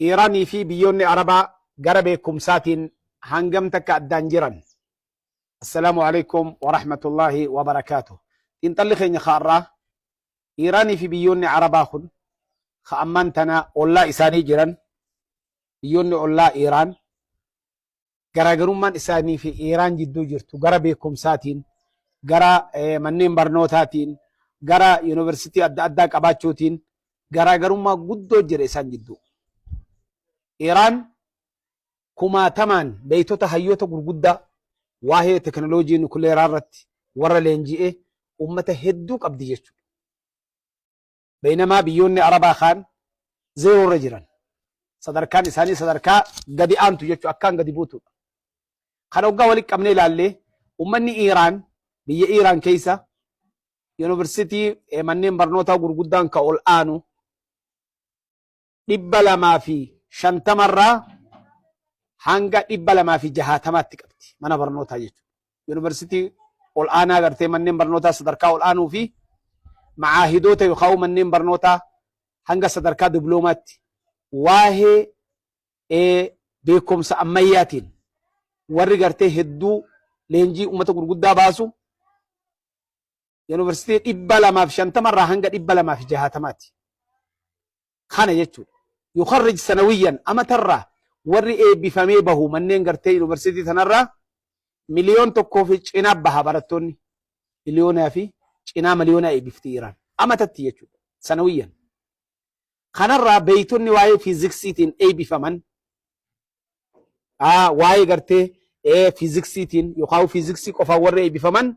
Iiraan fi biyyoonni Arabaa gara beekumsaatiin hangam takka addaan jiran? Assalaamu alaikum wa rahmatullaahi wa barakaatuh. Xiinxalli keenya har'aa Iiraan fi biyyoonni Arabaa kun ka ammaan tana ollaa isaanii jiran biyyoonni ollaa Iiraan garaagarummaan isaanii fi Iiraan jidduu jirtu gara beekumsaatiin, gara manneen barnootaatiin, gara yuunivarsiitii adda addaa qabaachuutiin garaagarummaa guddoo jira isaan jidduu. Iiraan kumaatamaan beektota hayyoota gurguddaa waa'ee tekinooloojii nukuleeraa irratti warra leenji'ee uummata hedduu qabdi jechuudha. Baynamaa biyyoonni Arabaa kaan zeeroo irra jiran, sadarkaan isaanii sadarkaa gadi aantu jechuudha, akkaan gadi buutuudha. Kana hoggaa walitti qabnee ilaalle ummanni Iiraan biyya Iiraan keessa yuunivarsiitii manneen barnootaa gurguddaan ka ol aanu 250 irraa hanga 260tti qabdi mana barnootaa jechuudha. Yuunivarsiitii ol'aanaa gartee manneen barnootaa sadarkaa ol'aanuu fi ma'aahidoota yookaan manneen barnootaa hanga sadarkaa diploomaatti waa'ee ee, beekumsa ammayyaatiin warri gartee hedduu leenjii uummata gurguddaa baasu Yuunivarsiitii dhibba lamaaf shantama irraa hanga dhibba lamaaf jahatamaati. Kana jechuudha. Yukarrij sanawiyyan amatarraa warri eebbifamee bahu manneen gartee yuunivarsiitii tanarraa miliyoon tokkoo fi cinaa baha barattoonni. Miliyoonaa fi cinaa miliyoonaa eebbifti Iraan. Amatatti jechuudha. Sanawiyyan. Kanarraa beeytonni waa'ee fiiziksiitiin eebbifaman waa'ee gartee fiiziksiitiin yookaan fiiziksii qofaan warri eebbifaman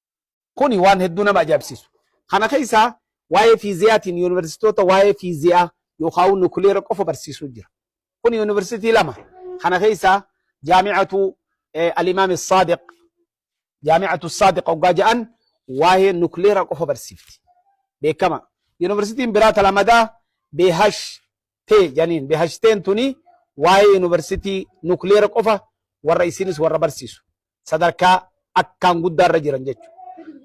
Kuni waan hedduu nama ajaa'ibsiisu. Kana keessaa waa'ee fiiziyaatiin yuunivarsiitoota waa'ee fiiziyaa yookaawuu nukileera qofa barsiisuu jira. Kuni yuunivarsiitii lama. Kana keessaa Jaami'atu Alimaam Saadiq Jaami'atu Saadiq hoggaa ja'an waa'ee nukileera qofa barsiifti. Beekama. Yuunivarsiitiin biraa talamadaa Beehash tee janiin Beehash teen tuni waa'ee yuunivarsiitii nukileera qofa warra isiinis warra barsiisu. sadarkaa akkaan guddaa irra jiran jechuudha.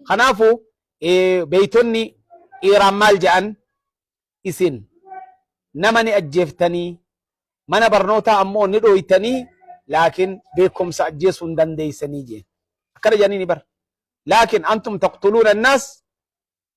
Kanaafuu beeytonni Iiraan maal jedhan isin nama ni ajjeeftanii mana barnootaa ammoo ni dhooytanii laakiin beekumsa ajjeesuu hin dandeeysanii jeen. Akkana jedhanii ni bara. Laakiin antum taqtuluuna annaas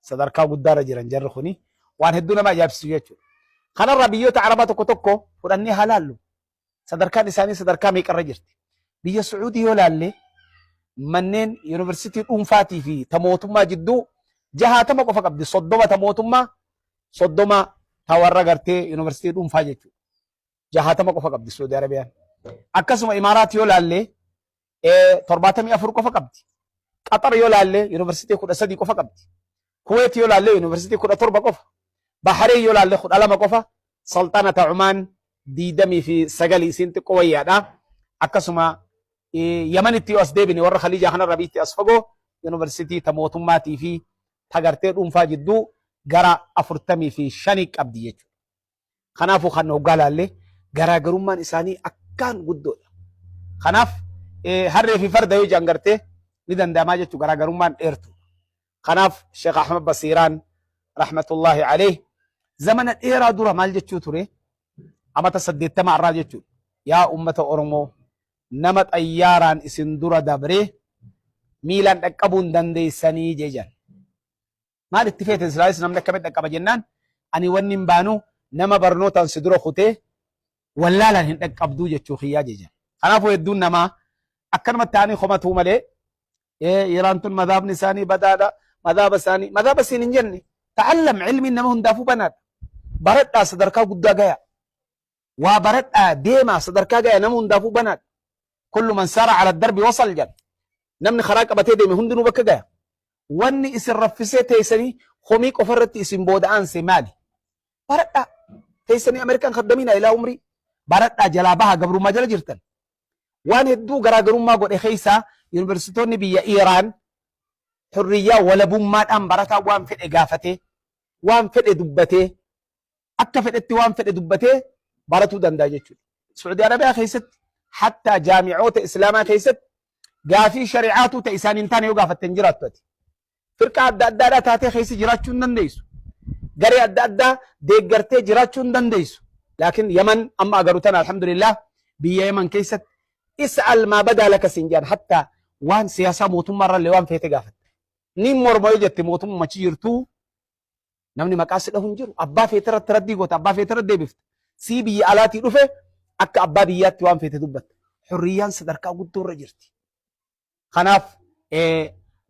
sadarkaa guddaarra jiran jarri kuni waan hedduu nama ajaa'ibsiisu jechuudha. Kanarraa biyyoota Arabaa tokko tokko fudhannee haa laallu. Sadarkaan isaanii sadarkaa meeqarra jirti. Biyya Sucuudii yoo laalle manneen yuunivarsiitii dhuunfaatii fi ta mootummaa jidduu jahaatama qofa qabdi. Soddoma ta mootummaa, soddoma ta warra gartee yuunivarsiitii dhuunfaa jechuudha. Jahaatama qofa qabdi Suudi Arabiyaan. Akkasuma Imaaraat yoo laalle torbaatamii afur qofa qabdi. Qaxar yoo laallee yuunivarsiitii kudha sadii qofa qabdi. Kuweet yoo laallee yuunivarsiitii kudha torba qofa. Bahareen yoo laallee kudha lama qofa. Salxanata Cumaan diidamii fi sagalii isiin xiqqoo wayyaadha. Akkasuma Yamanitti yoo as deebine warra Khaliijaa kanarra biitti as fagoo yuunivarsiitii ta mootummaatii fi tagartee dhuunfaa jidduu gara afurtamii fi shanii qabdi jechuudha. Kanaafuu kan hoggaa laallee garaagarummaan isaanii akkaan guddoodha. Kanaaf harree fi farda yoo jedhan gartee ni danda'amaa jechuu garaagarummaan dheertu. Kanaaf Sheekh Ahmad Basiiraan rahmatullahi alayh zamana dheeraa dura maal jechuu ture amata saddeettama irraa jechuudha. Yaa uummata Oromoo nama xayyaaraan isin dura dabree miilaan dhaqqabuun dandeessanii jejan. maal itti feete silaanis namni akkamitti dhaqqaba jennaan ani wanni hin baanu nama barnootaan si dura kutee wallaalaan hin dhaqqabduu jechuu kiyyaa jejan. Kanaafuu hedduun namaa akkanumatti ta'anii komatuu malee Iraan tun madhaabni isaanii badaadha madhaaba isaanii madhaaba siin hin jenne ta'allam ilmiin nama hundaafuu banaadha baradhaa sadarkaa guddaa gayaa. waa baradhaa deemaa sadarkaa gaya nama hundaafuu banaadha kullu man saara ala darbi wasal jedha namni karaa qabatee deeme hundinuu bakka gaya wanni isin raffisee teessanii komii qofa irratti isin booda aanse maali baradhaa teessanii ameerikaan kaddamiina ilaa umrii baradhaa jalaa baha gabrummaa jala jirtan waan hedduu garaagarummaa godhe keessaa yuunivarsiitoonni biyya Iiraan hurriyyaa walabummaadhaan barataa waan fedhe gaafatee waan fedhe dubbatee akka fedhetti waan fedhe dubbatee baratuu danda'a jechuudha. Suudi Arabiyaa keessatti hattaa jaami'oota Islaamaa keessatti gaafii shari'aatuu ta'e isaan hin taane yoo gaafatte hin jiraattu ati. Firqaa adda addaadhaa taatee keessa jiraachuu hin dandeessu. Garee adda addaa deeggartee jiraachuu hin dandeessu. Laakiin Yaman amma agaru tana alhamdulillah biyya Yaman keessatti isa almaa badaa laka siin jedhan hattaa waan siyaasaa mootummaa irrallee waan feete gaafatte. Ni morma yoo jette mootummaa achi jirtuu Namni maqaa si dhahu hin jiru. Abbaa feete irratti raddii goota, abbaa feete irratti deebifta. Sii biyya alaatii dhufe akka abbaa biyyaatti waan feete dubbatta. Hurriyyaan sadarkaa guddoo irra jirti. Kanaaf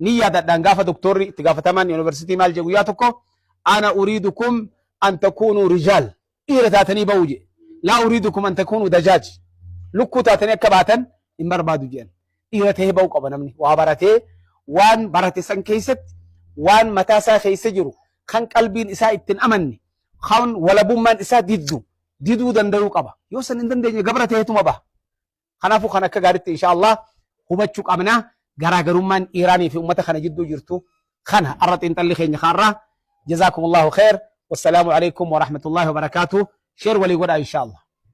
ni yaadadhaan gaafa doktorri itti gaafatamaan yuunivarsiitii maal jedhu guyyaa tokko ana uriidukum an takuunuu rijaal Dhiira taatanii ba'uu jedhe. Laa uriidukum an takuunuu dajaaj. Lukkuu taatanii akka baatan hin barbaadu jedhan. Dhiira ta'ee ba'uu qaba namni. Waa baratee waan barate san keessatti waan mataa isaa keessa jiru kan qalbiin isaa ittiin amanne kan walabummaan isaa diddu diduu danda'uu qaba. Yoo san hin dandeenye gabra ta'eetuma baha. Kanaafuu kan akka gaariitti insha Allah hubachuu qabna garaagarummaan Iiraanii fi uummata kana jidduu jirtu kana har'a xiinxalli keenya kaarraa jazaakumullahu khair wassalaamu alaikum warahmatullahi wabarakaatu sheer walii godhaa insha Allah.